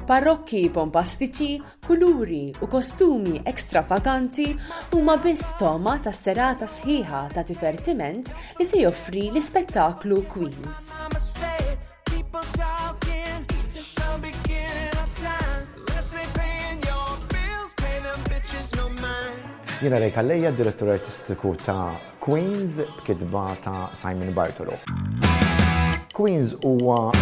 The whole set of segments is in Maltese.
Parrokki bombastiċi, kuluri u kostumi ekstravaganti huma biss toma ta' serata sħiħa ta' divertiment li se joffri l-ispettaklu Queens. Jiena Rej Kalleja, direttur artistiku ta' Queens b'kitba ta' Simon Bartolo. Queens huwa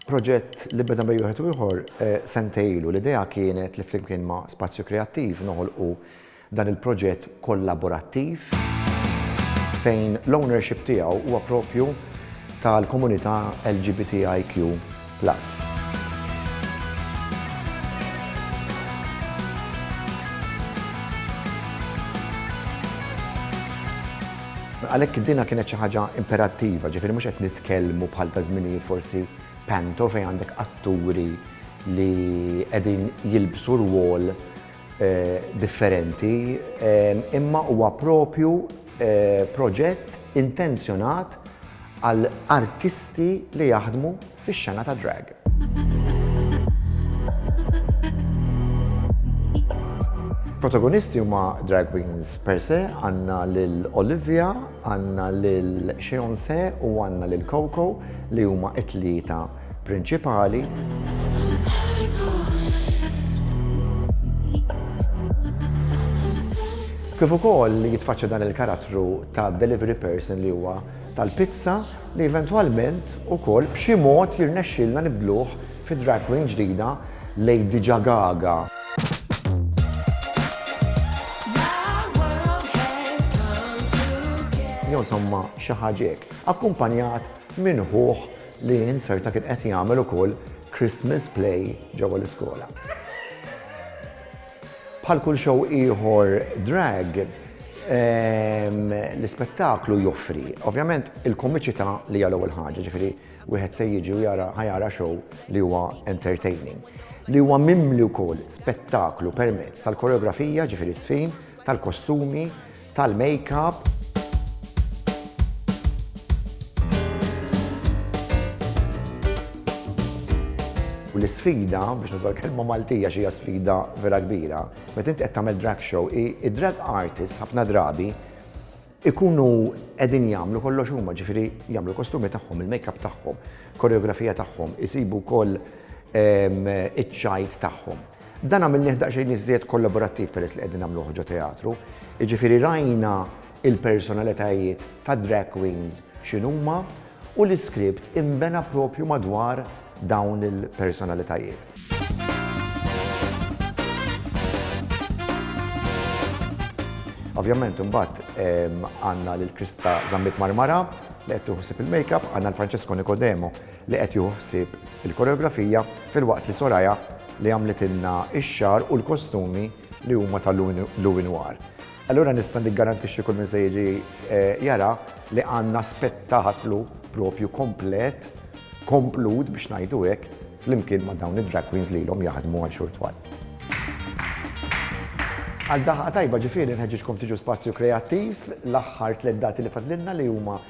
proġett li beda bej wieħed u ieħor sentej ilu. L-idea kienet li flimkien ma' Spazju Kreattiv noħolqu dan il-proġett kollaborattiv fejn l-ownership tiegħu huwa proprju tal-komunità LGBTIQ. Plus. Għalhekk dinha kienet xi ħaġa imperattiva, ġifieri mhux qed nitkellmu bħal ta' żminijiet forsi panto fejn għandek atturi li qegħdin jilbsu rwol differenti, imma huwa proprju proġett intenzjonat għal artisti li jaħdmu fix-xena tad-drag. Protagonisti huma drag queens per se, għandna lil Olivia, għandna lil Xeonse u għandna lil Coco li huma t-tlieta prinċipali. Kif ukoll jitfaċċa dan il-karattru ta' delivery person li huwa tal-pizza li eventwalment ukoll b'xi mod jirnexxilna nibdluh fi drag queen ġdida Lady Ġagaga. Jonsomma xi ħaġek, akkumpanjat minn ħuħ li inzerta kien qed jagħmel ukoll Christmas play ġewwa l-iskola. Bħal kull show ieħor drag, ehm, l-ispettaklu joffri, ovvjament, il-komiċità li hija l-ewwel ħaġa, ġifieri wieħed se jiġi u jara ħajara show li huwa entertaining li huwa mimli wkoll spettaklu permezz tal-koreografija ġifieri sfin, tal-kostumi, tal-makeup. U l-isfida, biex nużaw kelma Maltija xi sfida vera kbira, meta inti qed tagħmel drag show, id-drag artists ħafna drabi ikunu qegħdin jagħmlu kollox huma, ġifieri jagħmlu l-kostumi tagħhom, il-makeup tagħhom, koreografija tagħhom, isibu wkoll ehm, iċ-ċajt tagħhom. Dan għamilnieh daqsxejn iżjed kollaborattiv peress li qegħdin nagħmluh ġo teatru, jiġifieri rajna l-personalitajiet tad-drag queens x'inhuma u l-iskript inbena proprju madwar dawn il-personalitajiet. Ovvjament imbagħad għandna lil Krista Zammit Marmara li qed tieħu ħsieb il-makeup, għandna lil Francesco Nicodemo li qed jieħu ħsieb il-koreografija filwaqt li Soraya li għamlitilna x-xagħar u l-kostumi li huma ta' Louis Noir. Allura nista' niggarantixxi kull min se jiġi jara li għandna spettaklu proprju komplet, komplut biex ngħidu hekk, flimkien ma' dawn id-drag queens li ilhom jaħdmu għal xhur twal. Għal daħqa tajba ġifieri nħeġġiġkom tiġu Spazju Kreattiv l-aħħar tliet dati li fadlilna li huma